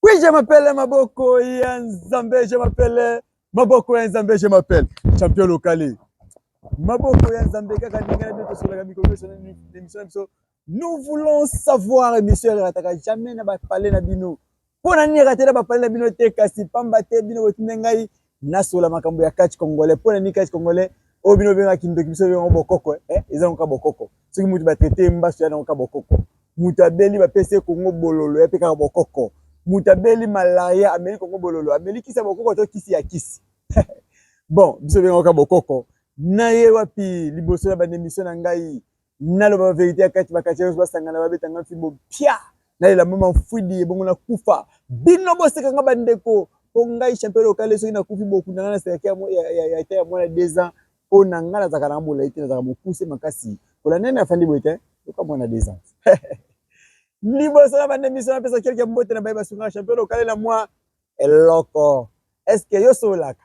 Oui, je m'appelle Maboko ya Nzambe, je m'appelle Maboko ya Nzambe, je m'appelle Champion Locale. Maboko ya Nzambe kaka ndenge na biso tosolaka mikolo biso l'émission na biso. Nous voulons savoir émission erataka jamais na ba palais na bino. Mpo na nini eratela ba palais na bino te kasi pamba te bino botinde ngai nasola makambo ya catch congolais mpo na nini catch congolais oyo bino obengaka kindoki biso obenga bokoko eh, eza noka bokoko soki moto batraite ye mbaso ya noka bokoko moto abeli bapesi ye kongo bololo ya mpe kaka bokoko moto abeli malaria ameli kongo bololo ameli kisi ya bokoko to kisi ya kisi bon biso obenga noka bokoko naye wapi liboso na banemisio na ngai naloba verite ya kati bakati nyonso basangana babeta nga fimbo mpia nalela mama mfwidi ebongo nakufa bino boseka nga bandeko mpo ngai champion lokale soki nakufi bokunda nga na sekaki ya ta ya mwana deux ans mpo na ngai nazalaka na bolai te nazalaka mokuse makasi kolanda nde afandi boye te yoka mwana deux ans liboso na banda emission napesa kelke mbote na baye basungaka champion lokale na mwa eloko eske yo sololaka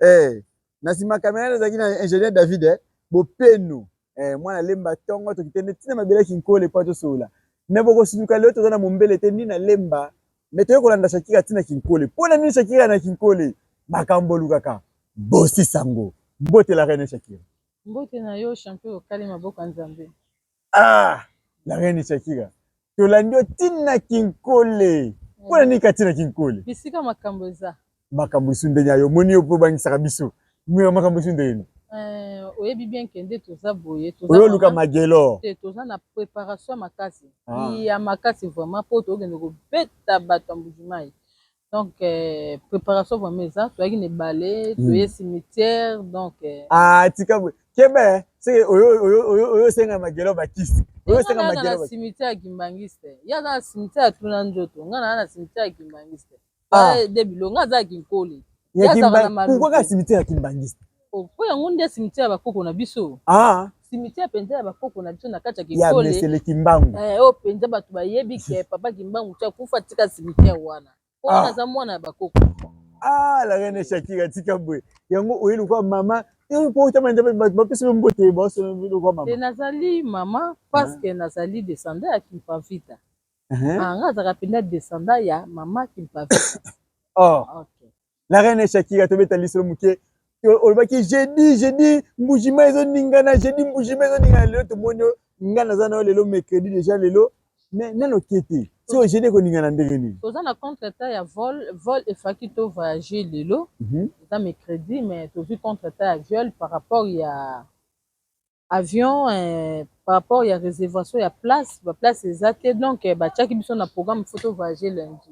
Eh, na sima kamera nazalaki na ingénieur David eh, bopenu eh, mwana lemba tongo tokite nde ntina mabele kinkole mpo tosolola me bokosuluka lelo toza na mombele te nini na lemba me toye kolanda shakira ntina kinkole mpo na nini shakira na kinkole makambo olukaka bosi sango mbote la reine shakira mbote na yo champion okali maboko ya nzambe Ah, la reine Shakira. Tolandi yo tina kinkole. Mm. Pona nini katina kinkole? Bisika makambo eza. Makambo isu ndenge ayo moni yo po bangisaka biso. Mira makambo isu ndenge nini? Euh, oyebi bien ke nde toza boye tozoluka magelo te toza na préparation makasi ah. ya makasi vraiment mpo tokende kobeta bato ya mbujimai Donc euh, préparation vraiment eza toyaki na ebale hmm. toye cimetière donc euh, ah tika boye kebe seke oyosenga magelo bakisi oyosenga magelo na cimetière ya kimbangiste ye aza na cimetière ya tuna nzoto ngai naa na cimetière ya kimbangiste ah. de bilonga aza ya kinkole ye azaka na maluku kaka cimetière ya kimbangiste Oh, po yango nde cimetière ya bakoko na biso ah. cimetière mpenza ya bakoko na biso na kati ya kikolesele kimbangu eh, oyo mpenza bato bayebi ke papa kimbangu ti akufa tika cimetière wana po ah. wana aza mwana ya bakoko ah, la reine shakira tika boye yango oye lokola mama bapesi yo mbote baosolokola mama nazali mama parce que nazali descendant ya kimpavita uh-huh. ah, nga azalaka mpenza descendant ya mama kimpavita oh. okay. la reine shakira tobeta lisolo moke olobaki jeudi jeudi mbujima ezoningana jeudi mbujima ezoningana lelo tomoni nga naza nayo lelo mercredi deja lelo mais nano oke te so jeudi ekoningana ndenge nini toza na contre temps ya vol vol efaki to voyage lelo mhm. eza mercredi mais tozwi contre temps ya viol par rapport ya avion par rapport ya reservation ya place ba place eza te donc batiaki biso na programme faut to voyage lundi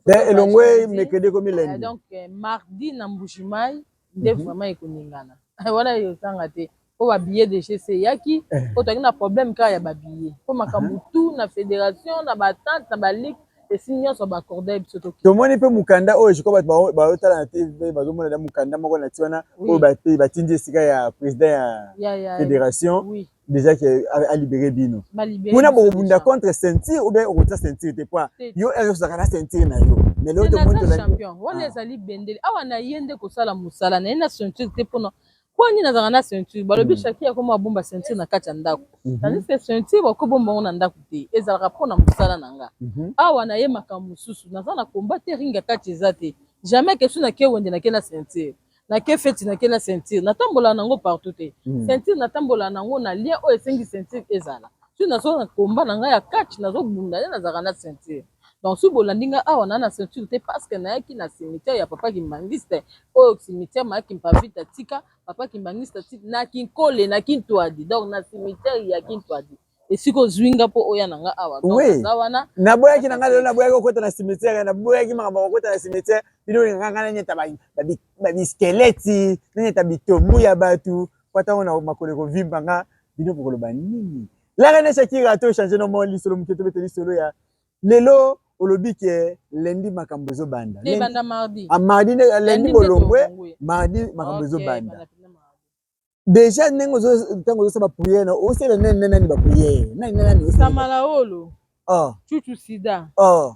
eh, elongwe mekede komi lundi eh, donc eh, mardi na mbujimayi nde mhm. vraiment ekoningana wana ezanga te mpo babillet de gc eyaki mpo tozalaki na problème kaka ya babillet mpo makambo tout na fédération na batante na baligue Esi nyonso ba accorda biso to. Tomoni pe mukanda oyo jiko bato bayotala na TV bazomona na mukanda moko na ti wana oyo batindi esika ya president ya federation déjà que a libere bino kuna bokobunda contre ceinture ou bien okotia ceinture te po yo ere ozalaka na ceinture na yo mais leo tomoni tolaki wana ezali bendele awa na ye nde kosala mosala na ye na ceinture te mpona Mpo nini nazalaka na ceinture? Balobi mm. Shakira akoma abomba ceinture na kati ya ndako. Mm -hmm. Tandis que ceinture bakobomba yango na ndako te, ezalaka mpo na mosala na nga. Mm -hmm. Awa naye makambo mosusu, naza na combat te, ringa kati eza te. Jamais kesu na ke wende na ke na ceinture. Na ke feti na ke na ceinture. Natambola nango partout te. Mm. Ceinture natambola nango na lien oyo esengi ceinture ezala. Soki nazo na combat na nga ya catch, nazo bunda, nazalaka na ceinture. Donc soki bolandi nga awa na na ceinture te pasque nayaki na cimetière ya papa kimbanguiste oyo cimetière ma kimpavita atika papa kimbanguiste atika na kinkole na kintuadi donc na cimetière ya kintuadi esika ozwi nga mpo oya na nga awa donc aza wana naboyaki na nga lelo naboyaki kokota na cimetière naboyaki makambo kokota na cimetière bino olingaka nga nanyata babiskeleti nanyata bitombu ya bato mpo ntango na makolo ekovimba nga bino bokoloba nini La reine Shakira to changer no mot lisolo muke to bete lisolo ya lelo olobi ke lundi makambo ezo banda. Te banda mardi. A ah, mardi ne euh, lundi bolongwe mardi makambo ezo banda. Deja ndenge ozo tango ozo saba prière na osela nene nene nani ba prière. Nani nani osela. Samalaolo. Oh. Chuchu sida. Oh.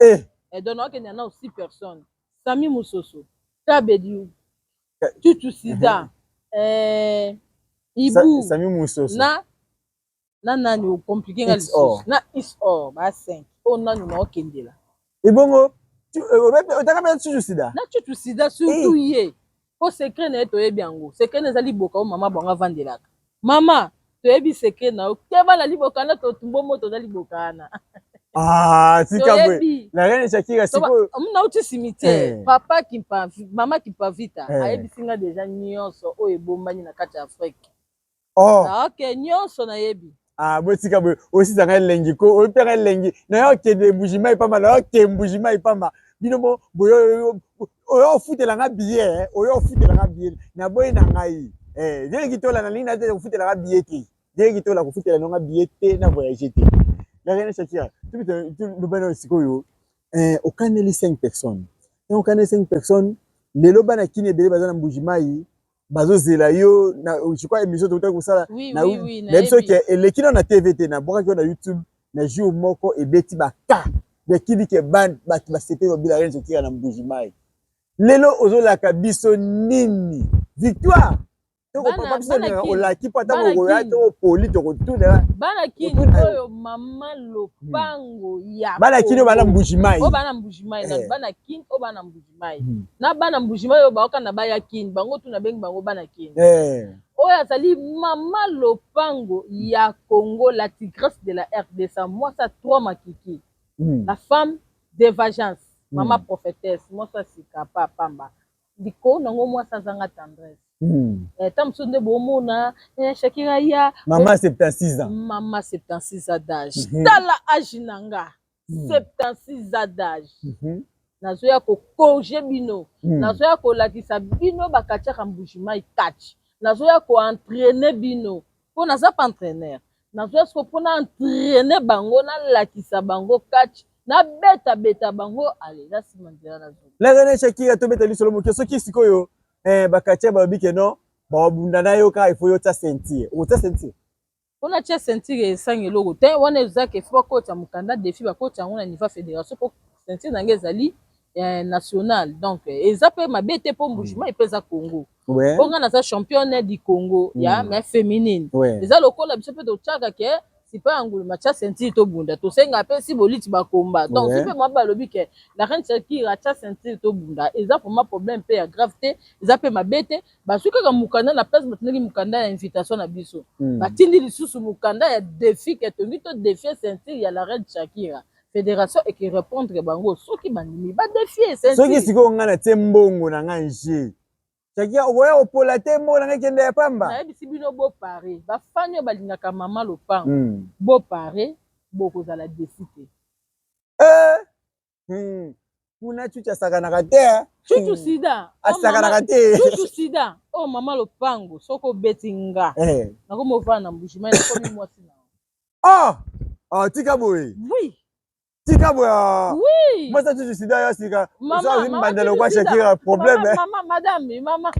eh eh donc na kende na aussi personne Sami Musoso Tabedi Tutu Sida eh Ibu Sami Musoso na na nani o compliquer nga lisusu na is or ba 5 o nani na okendela ebongo otaka mpe Tutu Sida na Tutu Sida surtout ye Po secret naye toyebi yango. Secret naye eza liboka oyo mama bango avandelaka. Mama, toyebi secret na yo. Keba na liboka na to tumbo moto na liboka wana. Ah, tika bwe. Na rien Shakira siko. Mna uti cimetière. Eh. Papa Kimpa, mama Kimpavita, eh. ayebisi nga deja nyonso oyo ebombani na kati ya Afrique. oh ah, ok nyonso nayebi ah botika boye osisa ngai elengi ko oyebi mpe ngai elengi naye okende mbujima ipamba naye oke mbujima ipamba bino mo boyo oyo ofutela ngai biye eh. oyo ofutela ngai biye naboyi na ngai eh, vieleki tola na lingi naye kofutela ngai biye te vieleki tola kofutela nonga biye te na voyage te la reine shakira tubitolobana sikoyo eh, okaneli 5 personnes ntango okaneli 5 personnes lelo bana kini ebele baza na mbuji mai bazozela yo na je crois émission tokotaki kosala oui, na oui, oui, na biso ke eleki na na TV te na bwakaki na YouTube na jour moko ebeti ba cas ya kidi ke ban bato basepeli babila rien zokira na mbuji mai lelo ozolaka biso nini victoire tokopapa biso na olaki mpo ata kokoya to poli tokotuna bana kini oyo mama lopango hmm. ya bana kini oyo bana mbuji mai oyo bana mbuji mai eh. bana kini oyo bana mbuji Mbujimayi hmm. na bana Mbujimayi oyo baoka na baya Kin bango tu nabengi bango bana Kin eh. oyo azali mama lopango ya Congo la tigresse de la RDC mwasi ya trois makiki hmm. la femme de vagence hmm. mama hmm. prophétesse mwasi ya sika pa pamba likolo nango mwasi azanga tendresse Hmm. Eh, ntango mosusu nde bomona eh, shakira ya mama 76 ans mama 76 ans d'age hmm. tala age na nga 76 ans d'âge mhm. nazoya kokorge bino hmm. nazoya kolakisa bino bakatiaka mbujimai catch nazoya koentraine bino mpo naza pa entraîneur nazoya siko mpo na entraine bango nalakisa bango catch nabetabeta bango ale na nsima nzela na zoi lazane shakira tobeta lisolo moke soki sikoyo eh, bakatia balobi ke non babunda na yo kaka ifo yo tia sentir okotia sentir Pona atia ceinture esangi eloko tein wana eza ke faut bakota mukanda defi bakota yango na niveau ya federation po ceinture na nga ezali eh, national donc eza pe mabe te po mbujima epe eza Congo Ouais. po nga naza championne du Congo ya Mm. mais féminine Ouais. eza lokola biso pe totiaka ke sipa ya ngulu matia ceinture tobunda tosenga pe si boliti bakomba donc Ouais. si pe mwaba alobi ke la reine shakira atia ceinture tobunda eza vraiment problème pe ya grave te eza pe mabe te Bazui kaka mukanda na place batindaki mukanda ya invitation na biso. Hmm. Batindi lisusu mukanda ya defi ke tongi to defie ceinture ya la reine Shakira. Federation eki repondre bango soki bandimi ba defie ceinture. Soki sikoyo ngai natie mbongo na ngai nje. Shakira okoya kopola te mbongo na ngai kende ya pamba. Nayebisi bino bo pare. Ba fan oyo balingaka mama lopango. Hmm. Bo pare bokozala defi te. Eh! Hmm. kuna chuchu asakanaka te eh. chuchu hmm. sida oh, asakanaka te chuchu sida oyo oh, mama lopango soki obeti nga eh. nakomi ovanda na mbujimai nakomi mwasi na oh! oh, tika boye oui tika boye ah. oui. mwasi chuchu sida yo asika ozali mbanda lokwa shakira problème eh. mama madame mama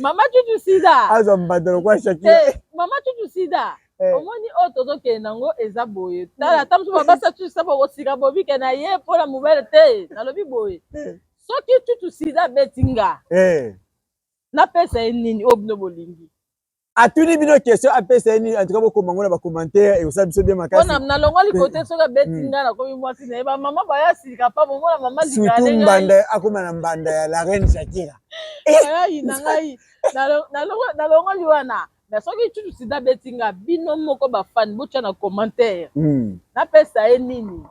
mama chuchu sida azwa mbanda lokwa shakira eh, mama chuchu sida Eh. omoni oyo oh, tozokende nango eza boye hmm. tala ata mosusu babasa cucu saba okosika bobike na ye mpo na mobele te nalobi boye eh. soki cucu sida abeti nga eh. napesa ye nini oyo oh, bino bolingi atuni bino question apesa ye nini antuka bokoma ngo na bacommentaire ekosala biso bien makasi pona nalongoli kote hmm. soki abeti hmm. nga nakomi mwasi na ye bamama baya silika pa bomona mama surtout mbanda akoma na mbanda ya la reine shakira ayayina ngai nalongoli wana mais soki lisusu sida abeti nga bino moko bafani botya na commentaire mm. napesa ye nini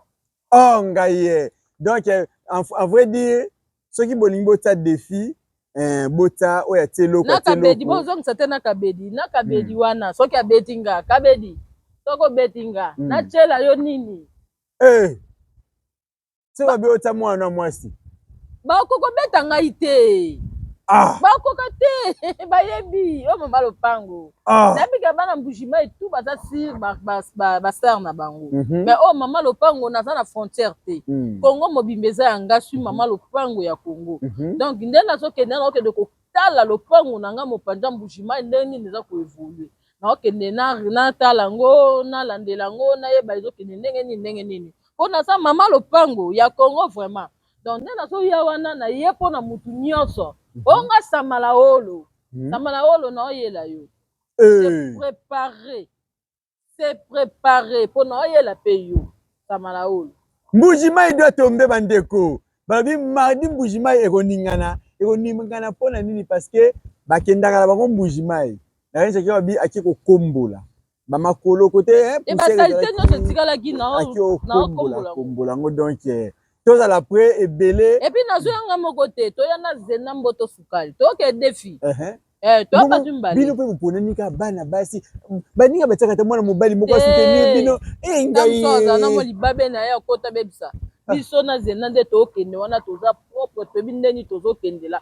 o oh, ngai ye donc eh, en vrai dire soki bolingi botya défi eh, botya oyo atie eloko na kabedi bozongisa te na kabedi na kabedi mm. wana soki abeti nga kabedi soki obeti nga mm. natyela yo nini eh. soki babota mwana mwasi bakoki kobeta ngai te ah. bakoka te bayebi oyo mama lopango ah. nayebika bana mbujima etu baza sir basere na bango mhm. mais oyo mama lopango naza na frontière te mm. congo mobimba eza ya nga sui mama mhm. lopango ya congo mhm. donc nde nazokende nakokende kotala lopango na ngai mopanza mbujima ndenge nini eza koevolue naokende natala yango nalandela yango nayeba ezokende ndenge nini ndenge nini mpo naza mama lopango ya congo vraiment donc nde nazoya wana naye mpo na motu nyonso mhm. onga samalaolo mhm. samalaolo naoyela yo se eh. prepare se prepare mpo naoyela mpe yo samalaolo mbuji mai doit tombe bandeko balobi mardi mbuji mai ekoningana ekoningana mpo na nini parce que bakendaka na bango mbuji mai La reine Shakira babi ake kokombola ba makolo kote eh, eh ba salite nyonso etikalaki na ake okombola kombola yango donc eh, tozala pre ebele epi nazo yanga moko te toya na zena mboto sukali toyoka edefi uh -huh. Eh, bino mpe boponami kaka bana basi baninga batiaka ata mwana mobali moko asoutenir eh, bino eh, ngaiaalibabe na ye akota bebisa ah. biso na zena nde tokende wana toza propre toyebi ndeni tozokendela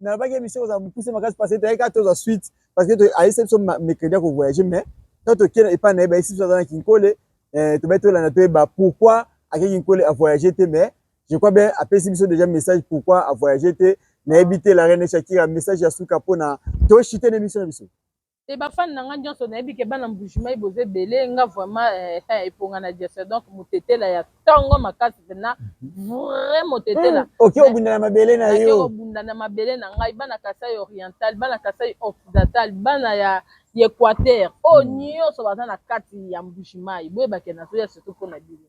nalobaki emission kozala mokuse makasi parce que toyaki tozwa suite parce que ayebisa biso mercredi ya kovoyage mais ntango tokie epai na ye bayebisi biso aza na kinkole eh, tobaki tolanda toyeba pourquoi ake kinkole avoyage te mais je crois bien apesi biso déjà message pourquoi avoyage te nayebi te la reine shakira message ya suka mpona toshite na émission na biso te ba fan na nga nionso nayebi ke bana mbujimayi boza ebele nga vraiment eh, eh, eponga na jesse donc motetela ya tongo makasi pena vrai motetela hmm, oki obunda na mabele na yo obunda na mabele na ngai bana kasai oriental bana kasai occidental bana ya ya equateur oyo oh, hmm. nyonso baza na kati ya mbujimayi boyebake nazoya surtout mpo na bino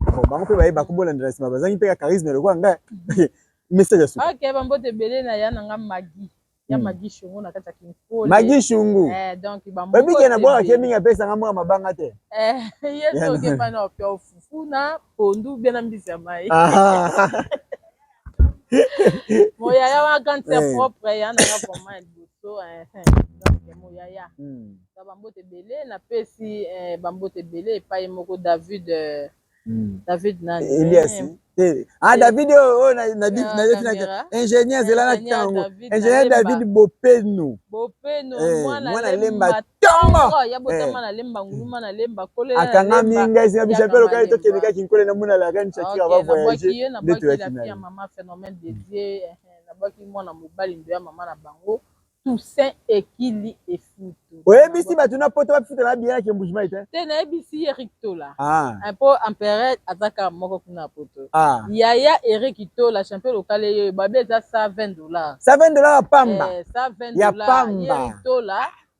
Bon, bango mpe bayeba ko bolanda na nsima bazangi mpe ka charisme lokola ngai message ya suka ok bambote ebele na ya na nga magi ya hmm. magi shungu na kati ya kinkole magi shungu eh, donc bambote na bwaka ke mingi apesa nga mwa mabanga te eh, ye soki epana opia ofufuna pondu bena mbisi ya mai ah. moyaya wana quand c'est eh. propre ya na nga vraiment ya liboso eh, eh. donc moyaya hmm. na bambote ebele napesi bambote ebele epai moko david hmm. david nani elias ah david oyo oh, oh, nayebi na ah, ingénieur zela na ntango ingénieur david bopenu bopenu mwana lemba tanga akangami ngai esi na biso apelo kani tokendekaki nkole na mona la reine shakira va voyage nde toyaki na ye nabwaki mwana mobali ndo ya mama na bango toussaint ekili efutu oyebisi bato na poto bafutela na biye na kembujimai te te nayebisi ye erik tola ah. eh, mpo empereur azaka moko kuna poto ah. yaya erik tola champion lokale yeyo babe eza 120 dollar 120 dollar ya pamba eh, ya pamba tola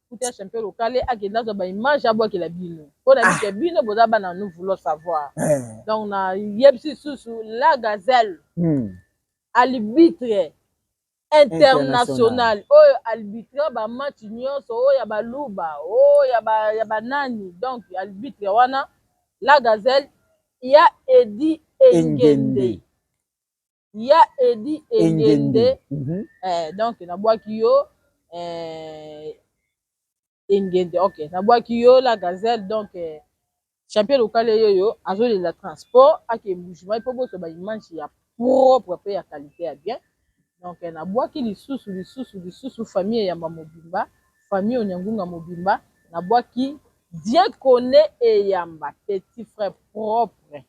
Kutu ya champion lokale akende azwa ba image abwakela bino mpo na mike bino boza bana nous voulons savoir Eh. donc na yebisi lisusu la gazelle Hmm. arbitre international oyo arbitre ba match nyonso oyo ya baluba oyo ya ba- ya banani donc arbitre wana la gazelle ya edi engende Engende. ya edi engende mhm. eh, donc nabwaki yo eh, engende ok nabwaki yo la gazelle donc eh, champion local eyoyo azolela transport ake bougement mpo bozwa baimage ya propre mpe ya qualité ya bien donc eh, nabwaki lisusu lisusu lisusu famille eyamba mobimba famille onyangunga mobimba nabwaki diekone eyamba petit frère propre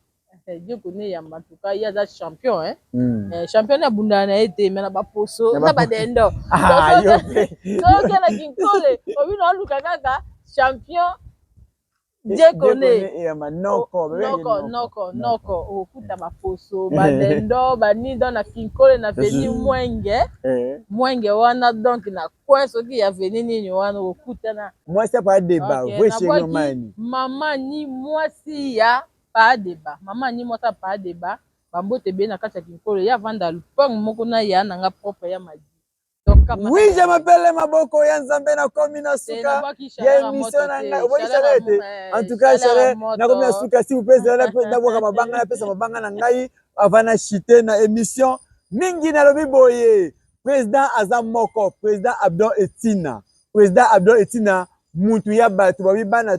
Eh, Dieu connaît Yamba, en tout cas, il y a des champions, hein. Mm. Eh, champion na bunda na été, mais na ba poso, na ba dendo. Ah, yo. Donc, il y a la kinkole, au vu na luka kaka, champion, Dieu connaît. Yamba, noko, noko, noko, noko, au coup na ba poso, ba dendo, ba ni dans la kinkole, na veni mwenge, eh. mwenge wana, donc na coin, ce qui y a veni ni wana, au coup na. Moi, c'est pas débat, oui, chez Maman, ni moi, si ya. Paa Deba, Mama Annie mwasi ya Paa Deba, ba mbote ebele na kati ya kinkole, ye avanda alpang moko na ya na nga propre ya Madi. Oui je m'appelle maboko ya nzambe na komi na suka ya emission na nga obwaki chaleur ete eh, en tout cas chaleur na komi na suka si vous pèse la na bwaka mabanga na pesa mabanga na ngai avant na chute na emission mingi na lobi boye président aza moko président Abdon Etina président Abdon Etina mutu ya bato babi bana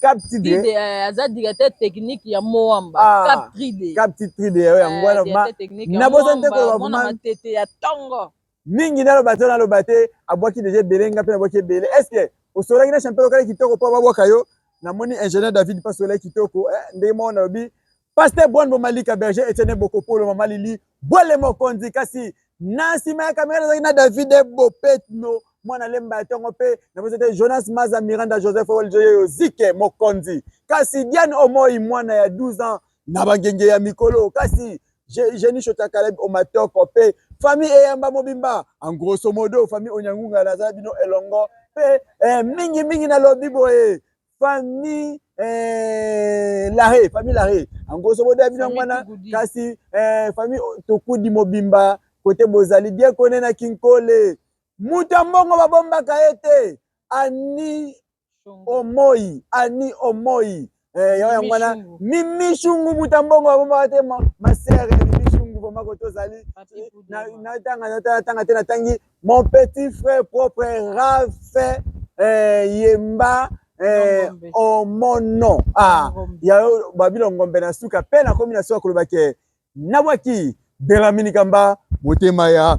Cap Tride eh, aza directeur technique ya Moamba ah, Cap Tride Cap Tride eh, yango wana eh, na bosa nte koloba vraiment matete ya tongo mingi naloba te naloba te abwaki deja ebele nga mpe nabwaki ebele est ce que osolaki na champion lokale kitoko mpo babwaka yo namoni ingénieur david mpe asolaki kitoko ndenge moko nalobi Pasteur Bonbo Malika Berger Etienne Bokopolo Mama Lili Bwele Mokonzi kasi na nsima ya kamera nazalaki na David Bopetno mwana lemba ya ntongo mpe nabosi te Jonas Maza Miranda Joseph Oljoyeyo Zike Mokonzi kasi Diane Omoi mwana ya 12 ans na bangenge ya mikolo kasi Jenny Shota Caleb Omatoko mpe famille eyamba mobimba en grosso modo famille Onyangunga nazala bino elongo mpe eh, mingi mingi nalobi boye famille eh, lare famille lare yango sobodo ya bino yango wana kasi eh, famille tokudi mobimba kote bozali die kone na kinkole moto ya mbongo babombaka ye te ani omoi ani omoi eh, yango yango wana mimishungu moto ya mbongo babombaka te masere mimishungu vraimen kote ozali natanga te natangi Mon petit frère propre Raph eh, Yemba eh, oh mon nom ah, ya babilo ngombe na suka pe nakomi na suka koloba ke nabwaki Belamini Kamba motema ya